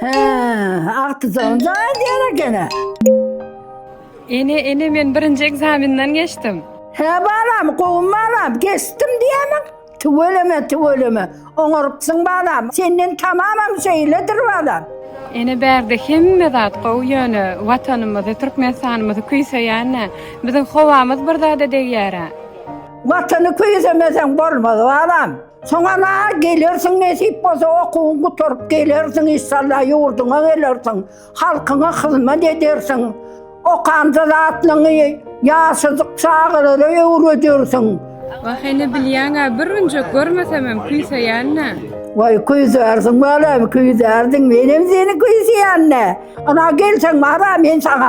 He, agtyjagyn jaýy diýer ekeni. Ene, ene men birinji ekzamenden geçdim. He balam, gowy balam, geçdim diýämiň? Tüweleme, tüweleme. Oňarypsyň balam. Senden tamamam şeýledir balam. Ene bärde hemme zat gowy ýöne watanymyzy Türkmenistanymyzy küýseýänä. Biziň howamyz bir zada degýärä. Watany küýsemeseň bolmaz balam. Soňana gelersiň nesip bolsa okuwyň gutaryp gelersiň inşallah ýurduňa gelersiň halkyňa hyzmat edersiň okanda zatlaňy ýaşajyk çagalara öwredersiň. Wah hene bilýäňä bir günjek görmesemem küýseýännä. Waý küýsärsiň balam küýsärsiň menem seni küýseýännä. Yna gelseň mara men saňa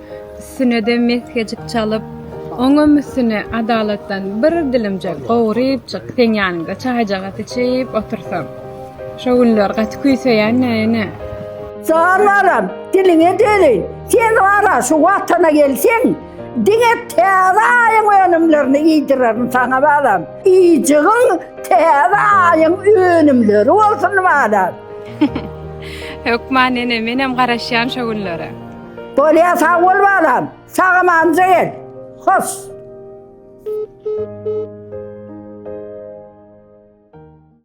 Üstüne-de mesgejik çalyp, oňam üstüne adalatdan bir dilimjik gowurypjyk seň ýanyňda çaýjagaz içip otursam. Şo günler gaty küýseýän-ä, ene. Jan balam, diliňe dözeý. Sen wara, şu Watana gelseň, diňe täze aýyň önümlerini iýdirerin saňa balam. Yjygyň täze aýyň önümleri bolsun balam. Hökman, ene, menem garaşýan şo günlere. Bolýa sag bol balam. Sag amanca gel. Hos.